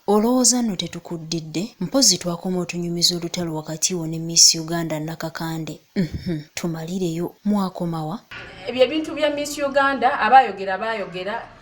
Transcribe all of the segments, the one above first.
Olowooza nno tetukuddidde? Mpozzi twakoma otunyumiza olutalo wakati wo ne Miss Uganda Nakakande. Uhmm, tumalireyo. Mwakomawa? Ebyo ebintu bya Miss Uganda abaayogera baayogera.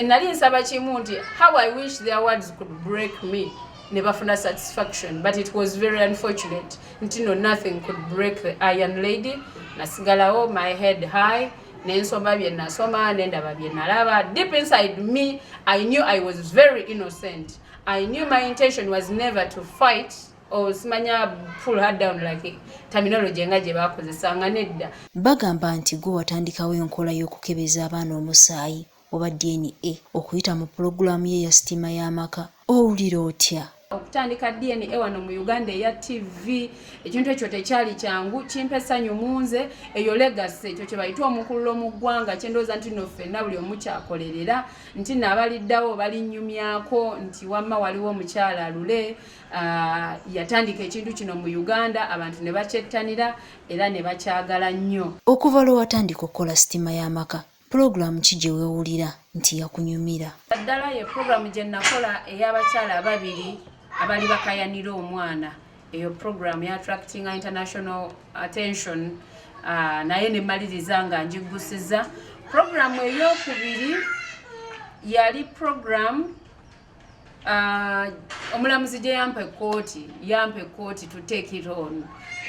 nali nsaba kimu nti how i wish their words could break me ne bafuna satisfaction but it was very unfortunate nti no nothing could break the iron lady nasigalawo my head high nensoma bye nasoma nendaba bye nalaba deep inside me i knew i was very innocent i knew my intention was never to fight osimanya pull her down like terminology nga gye baakozesanga nedda bagamba nti gwe watandikawo enkola y'okukebeza abaana omusaayi oba dna okuyita mu pulogulaamu ye ya sitiima y'amaka owulira otya okutandika dna wano mu uganda eya tv ekintu ekyo tekyali kyangu kimpa essanyu munze eyo legasi ekyo kyebayita omukululo mu ggwanga kyendowooza nti no ffenna buli omukyakolerera nti nabaliddawo balinyumyako nti wamma waliwo omukyala lule Uh, yatandika ekintu kino mu uganda abantu ne bakyettanira era ne bakyagala nnyo okuva lwe watandika okukola sitima y'amaka pulogulaamu ki gye weewulira nti yakunyumira addala ye pulogulaamu gye nakola ey'abakyala ababiri abali bakayanira omwana eyo pulogulaamu ya attracting international attention uh, naye ne maliriza nga ngiggusiza pulogulaamu ey'okubiri yali pulogulaamu Uh, omulamuzi gye yampa ekkooti yampa ekkooti to take it on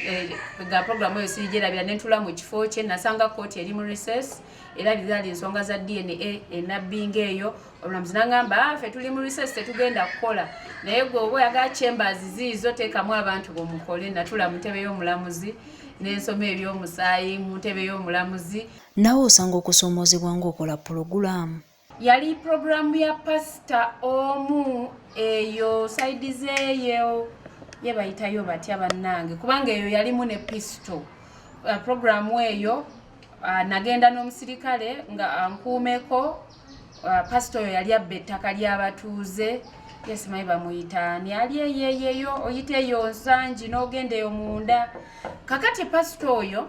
eh, ga programu eyo sirigyerabira ne ntula mu kifo kye nasanga kkooti eri mu recess era bizali ensonga za dna enabbinga eyo omulamuzi nangamba ah, fe tuli mu recess tetugenda kukola naye gwe oba oyagala chambers ziizo teekamu abantu bomukole natula mu ntebe y'omulamuzi n'ensoma eby'omusaayi mu ntebe y'omulamuzi nawe osanga okusoomoozebwa ng'okola pulogulaamu yali pulogulaamu ya pasita omu eyo saidi zeeyo ye bayitayo batya bannange kubanga eyo yalimu ne pisito uh, pulogulaamu eyo uh, nagenda n'omusirikale nga ankuumeko uh, pasita oyo yali abba ettaka ly'abatuuze yesimayi bamuyita ani ali eyeyeyo oyita eyo nsangi n'ogenda eyo munda kakati pasita oyo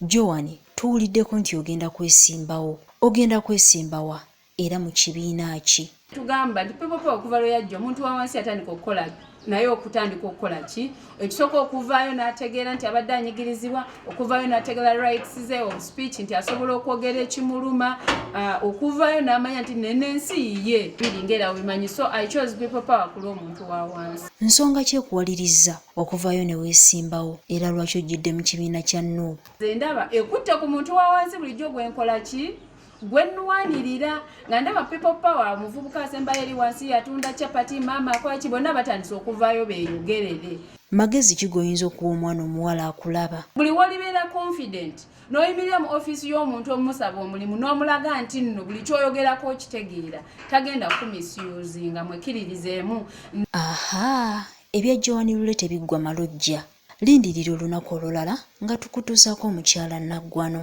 Joan, tuwuliddeko nti ogenda kwesimbawo. Ogenda kwesimba wa? Era mu kibiina ki? Tugamba nti people power okuva lwe yajja omuntu wa wansi yatandika okukola naye okutandika okukola ki ekisooka okuvaayo n'ategeera nti abadde anyigirizibwa okuvaayo n'ategeera rights ze of speech nti asobola okwogera ekimuluma uh, okuvaayo n'amanya nti nenensi yiye biri ngaera wemanyi so i chose people power kulwa omuntu wa wansi nsonga ki ekuwalirizza okuvaayo ne weesimbawo era lwaki ojjidde mu kibiina kya nup nze ndaba ekutte ku muntu wa wansi bulijjo gwenkola ki gwenwanirira nga ndaba people power omuvubuka asembayo eri wansi yatunda chapati maama akwaki bonna batandise okuvaayo beeyogerere magezi ki goyinza okuwa omwana omuwala akulaba buli wolibeera confident n'oyimirira mu ofiisi y'omuntu omusaba omulimu n'omulaga nti nno buli kyoyogerako okitegeera tagenda kumisiyuzinga mwekiririzeemu aha Ebya Joan Lule tebiggwa malojja. Lindirira olunaku olulala nga tukutuusaako omukyala Naggwano.